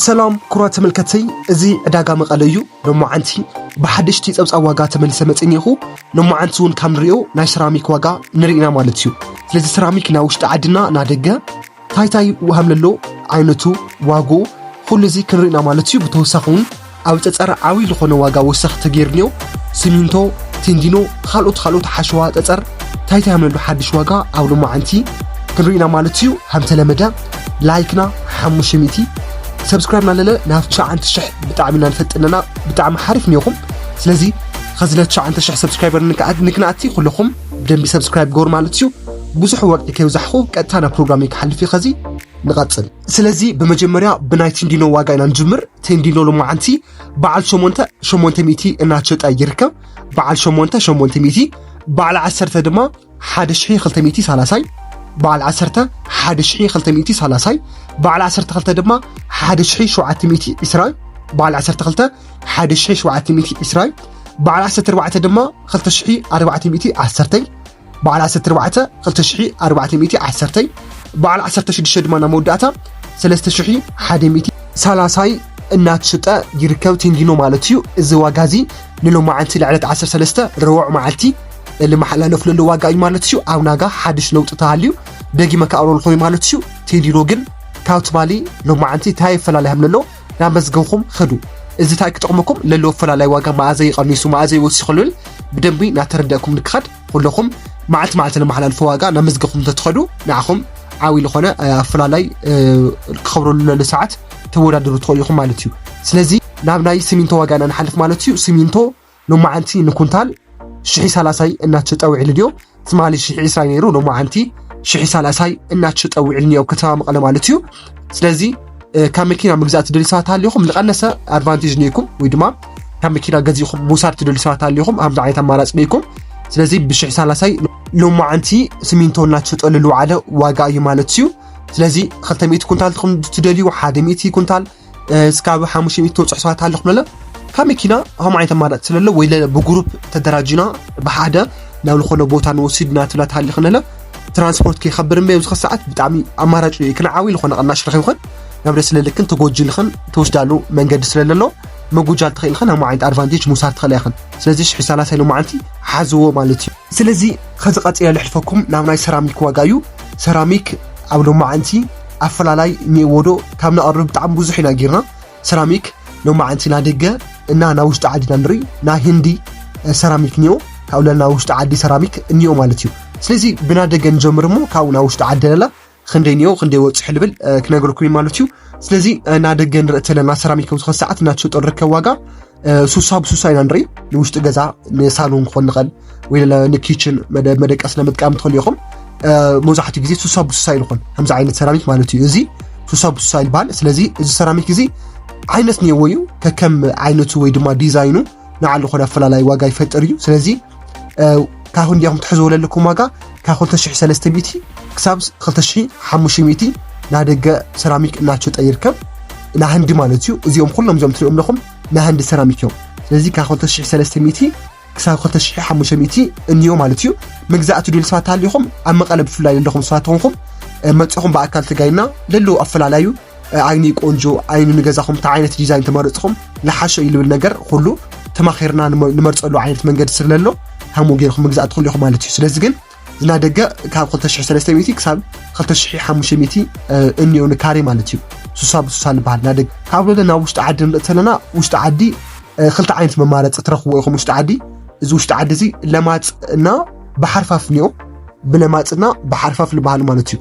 ሰላም ኩራ ተመልከተይ እዚ ዕዳጋ መቐለ እዩ ሎማዓንቲ ብሓደሽቲ ፀብፃብ ዋጋ ተመሊሰ መፅእ እኒኹ ሎማዓንቲ እውን ካብ ንሪኦ ናይ ሰራሚክ ዋጋ ንርኢ ኢና ማለት እዩ ስለዚ ሰራሚክ ናይ ውሽጢ ዓድና ናደገ ታይታይ ሃምለሎ ዓይነቱ ዋግኡ ኩሉ እዚ ክንርኢ ኢና ማለት እዩ ብተወሳኺ እውን ኣብ ፀፀር ዓብይ ዝኾነ ዋጋ ወሰኽ ተገይርንዮ ስሚንቶ ቴንዲኖ ኻልኦት ኻልኦት ሓሸዋ ፀፀር ታይታይምነሉ ሓድሽ ዋጋ ኣብ ሎማዓንቲ ክንሪኢና ማለት እዩ ሃምተለመደ ላይክና ሓሙሽተ ሚእቲ ሰብስክራይብ ናለለ ናብ ትሽዓንተ ሽሕ ብጣዕሚ ኢና ንፈጥነና ብጣዕሚ ሓሪፍ ኒኹም ስለዚ ኸዚ ለትሽዓንተ ሽሕ ሰብስክራይበር ንክንኣቲ ኩለኹም ብደንቢ ሰብስክራይብ ገበሩ ማለት እዩ ብዙሕ ወግዒ ከይብዛሕኹ ቀጥታ ናብ ፕሮግራም ክሓልፍ እዩ ኸዚ ንቐጽል ስለዚ ብመጀመርያ ብናይ ቲንዲኖ ዋጋ ኢና ንጅምር ቲንዲኖ ሎማዓንቲ በዓል ሸሞንተ ሸሞንተ ሚእቲ እናሸጠ ይርከብ በዓል ሸሞንተ ሸሞንተ ሚእቲ በዓል ዓሰርተ ድማ ሓደ ሽሒ ክልተ ሚእቲ ሳላሳይ በዓል ዓሰርተ ሓደ ሽሒ ክልተ ሚእቲ ሳላሳይ በዓል ዓሰርተ ክልተ ድማ ሓደ ሽሒ ሸውዓተ ሚእቲ ዕስራይ በዓል ዓሰርተ ክልተ ሓደ ሽሒ ሸውዓተ ሚእቲ ዕስራይ በዓል ዓሰርተ ኣርባዕተ ድማ ክልተ ሽሒ ኣርባዕተ ሚእቲ ዓሰርተይ በዓል ዓሰርተ ኣርባዕተ ክልተ ሽሒ ኣርባዕተ ሚእቲ ዓሰርተይ በዓል ዓሰርተ ሽዱሽተ ድማ ናብ መወዳእታ ሰለስተ ሽሒ ሓደ ሚእቲ ሳላሳይ እናተሸጠ ይርከብ ቴንጊኖ ማለት እዩ እዚ ዋጋ እዚ ንሎማዓንቲ ልዕለት 13 ረወዕ መዓልቲ ልመሓላለፍለሉ ዋጋ እዩ ማለት እዩ ኣብ ናጋ ሓድሽ ለውጢ ተሃልዩ ደጊመ ከኣብረልኮ እዩ ማለት እዩ ቴንዲኖ ግን ካብ ትማሊ ሎማዓንቲ እንታይ ይፈላለ ሃምለሎ ናመዝገብኹም ኸዱ። እዚ ታይ ክጠቕመኩም ለለዎ ኣፈላላይ ዋጋ መኣዘይ ቐኒሱ መኣዘይ ወሲኹ ልብል ብደንቢ ናተረደእኩም ንክኸድ ኹለኹም መዓልቲ መዓልቲ ነመሓላልፎ ዋጋ ናመዝገብኹም ተትኸዱ ንዓኹም ዓብይ ልኾነ ኣፈላላይ ክኸብረሉ ለሎ ሰዓት ተወዳድሩ ትኸእሉ ኢኹም ማለት እዩ። ስለዚ ናብ ናይ ስሚንቶ ዋጋ ኢና ንሓልፍ ማለት እዩ። ስሚንቶ ሎማዓንቲ ንኩንታል ሽሒ ሳላሳይ እናተሸጠ ውዒሉ ድዮ ትማሊ ሽሒ ዕስራይ ነይሩ ሎማዓንቲ ሽሒ ሳላሳይ እናተሸጠ ውዒሉ ኒኦ ከተማ መቐለ ማለት እዩ ስለዚ ካብ መኪና ምግዛእ ትደልዩ ሰባት ኣሊኹም ዝቐነሰ ኣድቫንቴጅ ኒኢኩም ወይ ድማ ካብ መኪና ገዚእኹም ምውሳድ ትደልዩ ሰባት ኣሊኹም ኣምዚ ዓይነት ኣማራፂ ኒኢኩም ስለዚ ብሽሒ ሳላሳይ ሎማዓንቲ ስሚንቶ እናተሸጠ ልልውዓለ ዋጋ እዩ ማለት እዩ ስለዚ ክልተ ሚእቲ ኩንታል ትኹም ትደልዩ ሓደ ሚእቲ ኩንታል እስካብ ሓሙሽተ ሚእቲ ተውፅሕ ሰባት ኣለኹ ብለለ ካብ መኪና ከም ዓይነት ኣማራፂ ስለለ ወይ ብግሩፕ ተደራጅና ብሓደ ናብ ዝኾነ ቦታ ንወስድ እናትብላ ትሃልኽ ነለ ትራንስፖርት ከይከብር እምበ ኣብዚ ሰዓት ብጣዕሚ ኣማራጭ እዩ ክንዓዊ ዝኾነ ቅናሽ ረኺብኽን ናብ ደስ ለልክን ተጎጅልኽን ተወስዳሉ መንገዲ ስለለሎ መጎጃል ትኽእልኽን ኣብ ዓይነት ኣድቫንቴጅ ምውሳድ ትኽእላ ኢኽን ስለዚ ሽሒ ሰላሳ ኢሎ መዓልቲ ሓዝዎ ማለት እዩ ስለዚ ከዚ ቀፂለ ልሕልፈኩም ናብ ናይ ሰራሚክ ዋጋ እዩ ሰራሚክ ኣብ ሎማዓንቲ ኣፈላላይ እኒኤዎ ዶ ካብ ነቕርብ ብጣዕሚ ብዙሕ ኢና ጌርና ሰራሚክ ሎማዓንቲ ናይ ደገ እና ናይ ውሽጢ ዓዲ ኢና ንርኢ ናይ ህንዲ ሰራሚክ እኒኦ ካብኡ ለላ ናይ ውሽጢ ዓዲ ሰራሚክ እኒኦ ማለት እዩ ስለዚ ብና ደገ ንጀምር እሞ ካብኡ ናይ ውሽጢ ዓዲ ለላ ክንደይ እኒኦ ክንደይ ወፅሑ ልብል ክነገርኩም እዩ ማለት እዩ ስለዚ ናይ ደገ ንርኢ ተለና ሰራሚክ ኣብ ዝኾነ ሰዓት እናተሸጦ ንርከብ ዋጋ ሱሳ ብሱሳ ኢና ንርኢ ንውሽጢ ገዛ ንሳሎን ክኾን ንኽእል ወይ ንኪችን መደቀስ ንምጥቃም ትኽእሉ ኢኹም መብዛሕትኡ ግዜ ሱሳ ብሱሳ ይልኾን ከምዚ ዓይነት ሰራሚክ ማለት እዩ እዚ ሱሳ ብሱሳ ይልበሃል ስለዚ እዚ ሰራሚክ እዚ ዓይነት ነይዎ እዩ ከከም ዓይነቱ ወይ ድማ ዲዛይኑ ንዓሉ ኾነ ኣፈላላይ ዋጋ ይፈጥር እዩ ስለዚ ካብ ህንዲኹም ትሕዝዎ ዘለኩም ዋጋ ካብ 2300 ክሳብ 2500 ናይ ደገ ሰራሚክ እናሸጠ ይርከብ ናይ ህንዲ ማለት እዩ እዚኦም ኩሎም እዚኦም ትሪኦም ኣለኹም ናይ ህንዲ ሰራሚክ እዮም ስለዚ ካብ 2300 ክሳብ 2500 እንዮ ማለት እዩ ምግዛእ ትድል ሰባት ሃሊኹም ኣብ መቐለ ብፍላይ ዘለኹም ሰባት ተኾንኩም መፅኹም ብኣካል ተጋይና ለለዉ ኣፈላለዩ ዓይኒ ቆንጆ ዓይኒ ንገዛኹም እንታይ ዓይነት ዲዛይን ተመረፅኹም ልሓሾ እዩ ልብል ነገር ኩሉ ተማኺርና ንመርፀሉ ዓይነት መንገዲ ስለሎ ከምኡ ገይርኩም ምግዛእ ትኽእሉ ኢኹም ማለት እዩ ስለዚ ግን ዝና ደገ ካብ 2300 ክሳብ 2500 እኒኦ ንካሬ ማለት እዩ ሱሳ ብሱሳ ዝበሃል ናደግ ካብ ወደ ናብ ውሽጢ ዓዲ ንርኢ ተለና ውሽጢ ዓዲ ክልተ ዓይነት መማረፂ ትረኽብዎ ኢኹም ውሽጢ ዓዲ እዚ ውሽጢ ዓዲ እዚ ለማፅ እና ብሓርፋፍ እኒኦ ብለማፅና ብሓርፋፍ ዝበሃል ማለት እዩ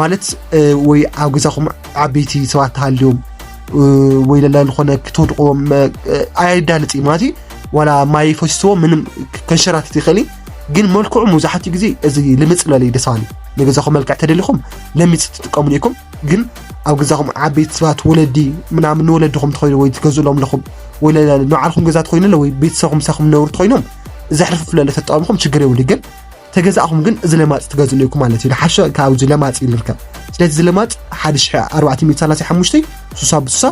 ማለት ወይ ኣብ ገዛኹም ዓበይቲ ሰባት ተሃልዮም ወይ ለላ ዝኾነ ክትወድቅዎም ኣየዳልፅ እዩ ማለት ዋላ ማይ ፈስዎ ምንም ከንሸራትት ይኽእል እዩ ግን መልክዑ መብዛሕትኡ ግዜ እዚ ልምፅ ዝበለ እዩ ደስ በሃሊ ንገዛኹም መልክዕ ተደሊኹም ለሚፅ ትጥቀሙሉ ኢኹም ግን ኣብ ገዛኹም ዓበይቲ ሰባት ወለዲ ምናምን ንወለድኹም ትኸይኑ ወይ ትገዝእሎም ኣለኹም ወይ ንባዕልኩም ገዛ ትኸይኑ ወይ ቤተሰብኩም ምሳኹም ነብሩ ትኸይኖም ዘሕርፍፍለለ ተጠቀምኩም ችግር የብሉ ግን ተገዛእኹም ግን እዚ ለማፅ ትገዝእሉ ኢኩም ማለት እዩ ዝሓሸ ካብ እዚ ለማፅ እዩ ንርከብ ስለዚ እዚ ለማፅ ሓደ ሽሒ ኣርባዕተ ሚእቲ ሰላሳ ሓሙሽተ ሱሳ ብሱሳ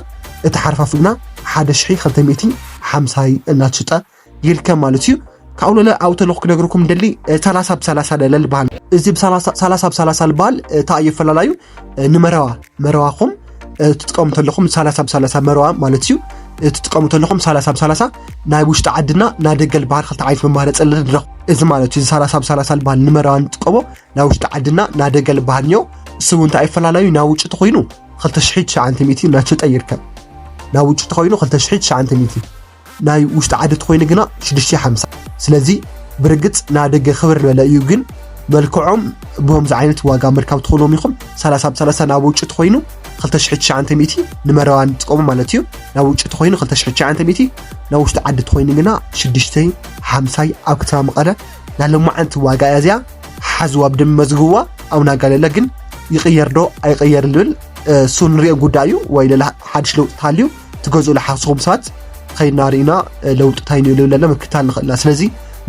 እቲ ሓርፋፍ ግና ሓደ ሽሒ ክልተ ሚእቲ ሓምሳይ እናተሽጠ ይርከብ ማለት እዩ ካብኡ ለለ ኣብኡ ተለኹ ክነግርኩም ደሊ ሰላሳ ብሰላሳ ለለ ዝበሃል እዚ ሰላሳ ብሰላሳ ዝበሃል እታ እየፈላለዩ ንመረዋ መረዋኹም ትጥቀሙ ተለኹም ሳላሳ ብሳላሳ መረዋ ማለት እዩ ትጥቀሙ ተለኹም ሳላሳ ብሳላሳ ናይ ውሽጢ ዓድና ናይ ደገ ዝበሃል ክልተ ዓይነት መማረፂ ኣለና ንረኽ እዚ ማለት እዩ ሳላሳ ብሳላሳ ዝበሃል ንመረዋ ንጥቀሞ ናይ ውሽጢ ዓድና ናይ ደገ ዝበሃል እኒኦ እሱ እውን እንታይ ይፈላለዩ ናይ ውጭ ተኮይኑ 2900 ናቸጠ ይርከብ ናይ ውጭ ተኮይኑ 2900 ናይ ውሽጢ ዓዲ ተኮይኑ ግና ሽዱሽተ ሽሕ ሓምሳ ስለዚ ብርግጽ ናይ ደገ ክብር ዝበለ እዩ ግን መልክዖም ብከምዚ ዓይነት ዋጋ ምርካብ ትኽእሎም ኢኹም ሰላሳ ብሰላሳ ናብ ውጭ ተኮይኑ ክልተ ሽሕ ትሽዓንተ ሚእቲ ንመረባ ንጥቀሙ ማለት እዩ ናብ ውጭ ተኮይኑ ክልተ ሽሕ ትሽዓንተ ሚእቲ ናብ ውሽጢ ዓዲ ተኮይኑ ግና ሽዱሽተ ሓምሳይ ኣብ ከተማ መቐለ ናይ ሎማዓንቲ ዋጋ እያ እዚኣ ሓዝዋ ብደንቢ መዝግብዋ ኣብ ናጋለለ ግን ይቕየር ዶ ኣይቕየር ዝብል እሱ ንሪኦ ጉዳይ እዩ ወይ ሌላ ሓድሽ ለውጢ ተሃልዩ ትገዝኡሉ ሓስኹም ሰባት ኸይድና ርኢና ለውጢ እንታይ ንዩ ልብል ኣለና ምክትታል ንኽእል ኢና ስለዚ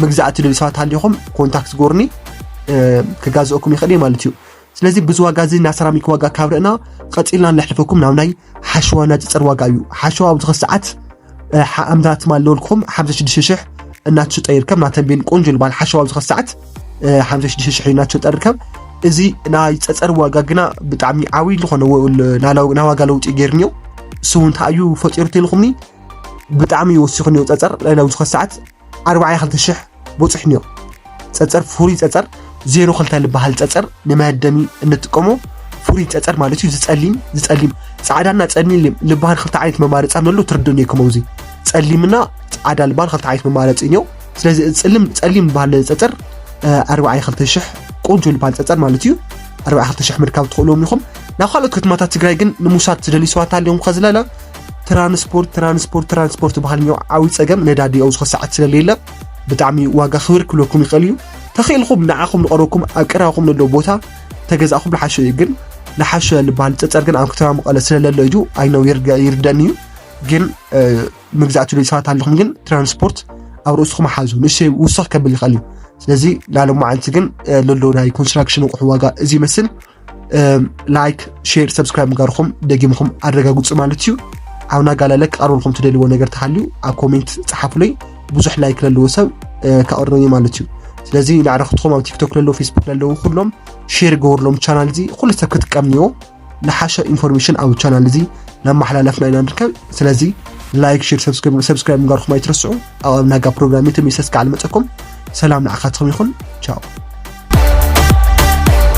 ምግዛእ እትደልዩ ሰባት ሃሊኹም ኮንታክት ጎርኒ ክጋዝኦኩም ይኽእል እዩ ማለት እዩ ስለዚ ብዙ ዋጋ እዚ ናይ ሰራሚክ ዋጋ ካብ ርእና ቐፂልና ንለሕልፈኩም ናብ ናይ ሓሸዋ ናፅፅር ዋጋ እዩ ሓሸዋ ኣብዚ ኸ ሰዓት ኣምዳት ማለወልኩም ሓምሳ ሽዱሽተ ሽሕ እናትሽጠ ይርከብ ናተንቤን ቆንጆ ዝበሃል ሓሸዋ ኣብዚ ኸ ሰዓት ሓምሽተ ሽዱሽተ ሽሕ ናቸው ጠርከብ እዚ ናይ ፀፀር ዋጋ ግና ብጣዕሚ ዓብዪ ዝኾነ ናይ ዋጋ ለውጢ ገይሩ እኒኦ እሱ እውን እንታይ እዩ ፈጢሩ ተልኹምኒ ብጣዕሚ ወሲኹ እኒኦ ፀፀር ናብ ዝኾነ ሰዓት ኣርባዕተ ክልተ ሽሕ በፂሑ እኒኦ ፀፀር ፍሩይ ፀፀር ዜሮ ክልተ ዝበሃል ፀፀር ንመደሚ እንጥቀሞ ፍሩይ ፀፀር ማለት እዩ ዝፀሊም ዝፀሊም ፃዕዳና ፀሊም ዝበሃል ክልተ ዓይነት መማረፂ ኣሎ ትርድእኒ ከምዚ ፀሊምና ፃዕዳ ዝበሃል ክልተ ዓይነት መማረፂ እኒኦ ስለዚ እዚ ፅልም ፀሊም ዝበሃል ፀፀር ኣርባዕየ ክልተ ሽሕ ቆንጆ ዝበሃል ፀፀር ማለት እዩ ኣርባዕየ ክልተ ሽሕ ምርካብ ትኽእልዎም ኢኹም ናብ ካልኦት ከተማታት ትግራይ ግን ንምውሳድ ዝደልዩ ሰባት ኣለዮም ከዝለለ ትራንስፖርት ትራንስፖርት ትራንስፖርት ዝበሃል እኒኦ ዓብዪ ፀገም ነዳዲ ኣብ ዝኾ ሰዓት ስለለየለ ብጣዕሚ ዋጋ ክብር ክብለኩም ይኽእል እዩ ተኽኢልኩም ንዓኹም ንቐረብኩም ኣብ ቀረባኹም ንሎ ቦታ ተገዛእኹም ንሓሾ እዩ ግን ንሓሾ ዝበሃል ፀፀር ግን ኣብ ከተማ መቐለ ስለለሎ እዩ ኣይነው ይርደን እዩ ግን መግዛእቲ ዶ ሰባት ኣለኹም ግን ትራንስፖርት ኣብ ርእስኹም ሓዙ ንእሽተይ ውስኽ ከብል ይኽእል እዩ ስለዚ ላለማዓንቲ ግን ለሎ ናይ ኮንስትራክሽን ኣቑሑ ዋጋ እዚ ይመስል ላይክ ሼር ሰብስክራይብ ምጋርኹም ደጊምኹም ኣረጋግፁ ማለት እዩ ኣብ ናጋላለ ክቐርበልኩም ትደልዎ ነገር ተሃልዩ ኣብ ኮሜንት ፀሓፉለይ ብዙሕ ላይክ ለለዎ ሰብ ከቕርበኒ ማለት እዩ ስለዚ ንዕረክትኹም ኣብ ቲክቶክ ለለዉ ፌስቡክ ለለዉ ኩሎም ሼር ገበርሎም ቻናል እዚ ኩሉ ሰብ ክጥቀም እኒዎ ንሓሻ ኢንፎርሜሽን ኣብ ቻናል እዚ ናመሓላለፍና ኢና ንርከብ ስለዚ ላይክ ሽር ሰብስክራይብ ምግባርኩም ኣይትረስዑ ኣብ ኣብናጋ ፕሮግራም ተመልሰ ክዓ ልመፀኩም ሰላም ንዓኻትኩም ይኹን ቻው